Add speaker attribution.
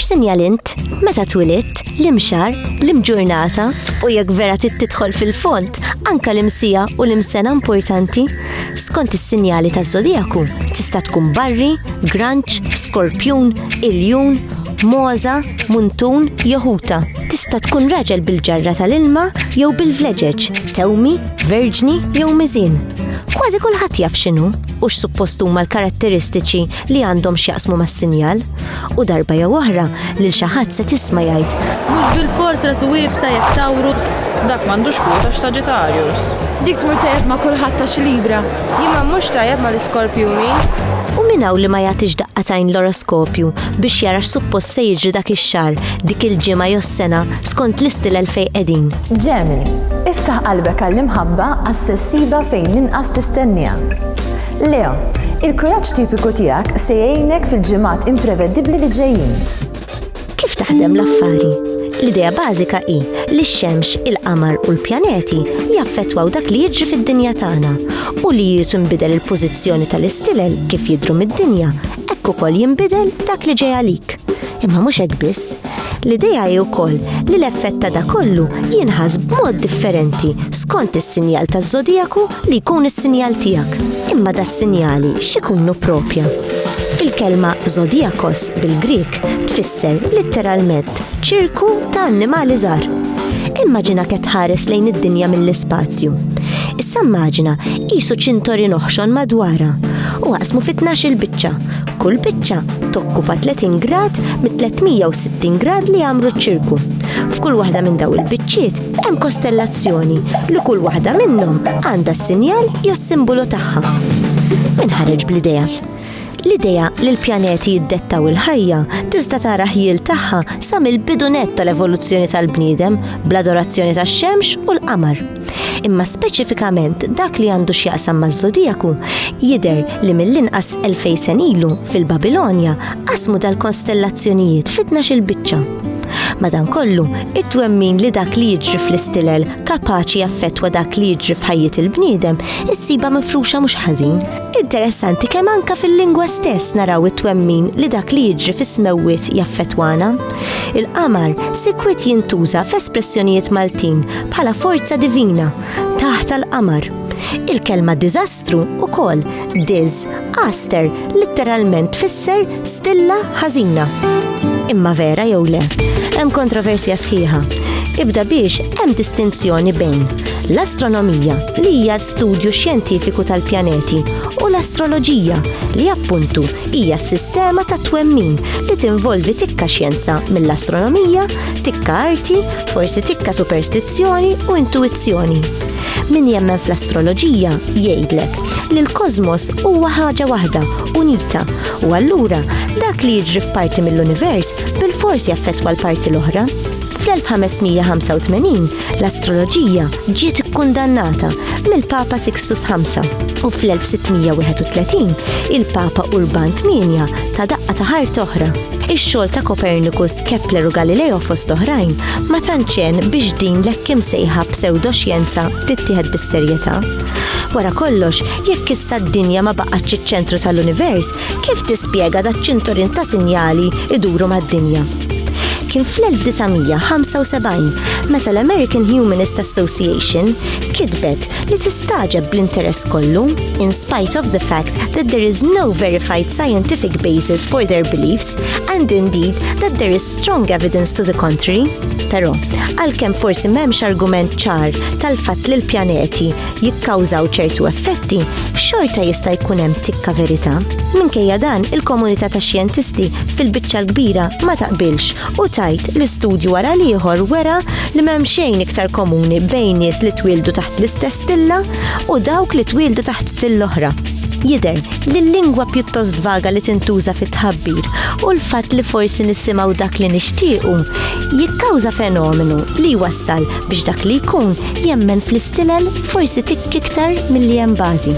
Speaker 1: X'sinjal int? Meta twilidt, l-imxar, l-imġurnata u jekk vera tidħol fil-font, anka l-imsija u l-imsena importanti. Skont is-sinjali ta' zodijaku tista' tkun barri, granċ, skorpjun, iljun, moza, muntun, joħuta. Tista' tkun raġel bil-ġarra tal-ilma jew bil-vleġeġ, tewmi, Verġni jew miżin. Kważi kulħadd jaf x'inhu u x'suppost huma l-karatteristiċi li għandhom x'jaqsmu mas-sinjal u darba jew oħra lil xi ħadd se tisma' jgħid. Mhux bil-fors
Speaker 2: rasu wibsa jekk tawrus. Dak m'għandux kwota x'Saġitarjus. Dik tmur tajjeb
Speaker 3: ma' kulħadd ta' x'libra. Jimma mhux tajjeb
Speaker 2: ma' l-iskorpjuni. U min
Speaker 1: hawn li ma jagħtix daqqatajn l-oroskopju biex jara x'suppost se jiġri dak ix-xahar, dik il-ġimgħa jew s-sena skont l-istilel fejn qegħdin. Ġemini,
Speaker 4: Iftaħ qalbek għall-imħabba għas-se ssibha fejn l-inqas tistenniha. Leo, Il-kuraġġ tipiku tiegħek se jgħinek fil-ġimgħat imprevedibbli li ġejjin. Kif
Speaker 1: taħdem l-affari? L-idea bażika hi li x-xemx, il-qamar u l-pjaneti jaffettwaw dak li jiġri fid-dinja tagħna u li jiet inbidel il-pożizzjoni tal-istilel kif jidhru mid-dinja hekk ukoll jinbidel dak li ġej għalik. Imma mhux hekk biss, l-idea hi wkoll li l-effett ta' da kollu jinħas b'mod differenti skont is-sinjal taż-żodijaku li jkun is-sinjal tiegħek. Imma da sinjali x'ikunu propja. Il-kelma zodijakos bil-Grik tfisser litteralment Ċirku ta' annimali żgħar. Immaġina qed tħares lejn id-dinja mill-ispazju. Issa immaġina qisu ċintorin oħxon madwarha u għasmu fit il biċċa. Kull biċċa tokkupa 30 grad mit-360 grad li għamru ċ-ċirku. F'kull waħda minn daw il-biċċiet hemm kostellazzjoni li kull waħda minnhom għandha s-sinjal jew s-simbolu tagħha. Min ħareġ bl-idea? L-idea li l-pjaneti jiddettaw il-ħajja tista' tara ħjiel tagħha sa mill-bidu nett tal-evoluzzjoni tal-bniedem bl-adorazzjoni tax-xemx u l-qamar. Imma speċifikament dak li għandu x'jaqsam maż-żodijaku jidher li mill-inqas elfej sen ilu fil-Babilonja qasmu dal-konstellazzjonijiet fi tnax-il biċċa. Madankollu, it-twemmin li dak li jiġri fl-istilel kapaċi jaffettwa dak li jiġri f'ħajjiet il-bniedem issiba mifruxa mhux ħażin. Interessanti kemm anka fil-lingwa stess naraw it-twemmin li dak li jiġri fis-smewwiet jaffetwana. Il-qamar sikwit jintuża f'espressjonijiet Maltin bħala forza divina taħt l-qamar. Il-kelma diżastru ukoll diz aster litteralment tfisser Stilla ħażina. Imma vera jew le, hemm kontroversja sħiħa. Ibda biex hemm distinzjoni bejn l-astronomija li hija studju xjentifiku tal-pjaneti u l-astroloġija li appuntu hija s-sistema ta' twemmin li tinvolvi tikka xjenza mill-astronomija, tikka arti, forsi tikka superstizzjoni u intuizzjoni. Min jemmen fl-astroloġija jgħidlek li l-kosmos huwa ħaġa waħda, unita, u allura dak li jiġri f'parti mill-univers bil-fors jaffettwa l-parti l-oħra. Fl-1585 l-astroloġija ġiet ikkundannata mill-Papa Sixtus V u fl-1631 il-Papa Urban VIII ta' daqqa ta' ħart oħra. Ix-xogħol ta' Copernicus Kepler u Galileo fost oħrajn ma tantxen biex din l-hekk imsejħa pseudoxjenza tittieħed bis-serjetà. Wara kollox, jekk issa d-dinja ma baqgħetx iċ-ċentru tal-univers, kif tispjega da ċinturin ta' sinjali iduru mad-dinja? kien fl-1975 meta l-American Humanist Association kitbet li tistaġeb bl-interess kollu in spite of the fact that there is no verified scientific basis for their beliefs and indeed that there is strong evidence to the contrary. Però, għalkemm forsi m'hemmx argument ċar tal-fatt li l-pjaneti jikkawżaw ċertu effetti, xorta jista' jkun hemm tikka verità. Minkejja dan, il-komunità ta' xjentisti fil-biċċa l-kbira ma taqbilx u tajt li studju wara l-ieħor wera li m'hemm xejn iktar komuni bejn nies li twildu taħt l-istess stilla u dawk li twildu taħt stilla oħra. Jidher li l-lingwa pjuttost vaga li tintuża fit-tħabbir u l-fatt li forsi nisimgħu dak li nixtiequ jikkawża fenomenu li jwassal biex dak li jkun jemmen fl-istilel forsi tikk iktar milli hemm bażi.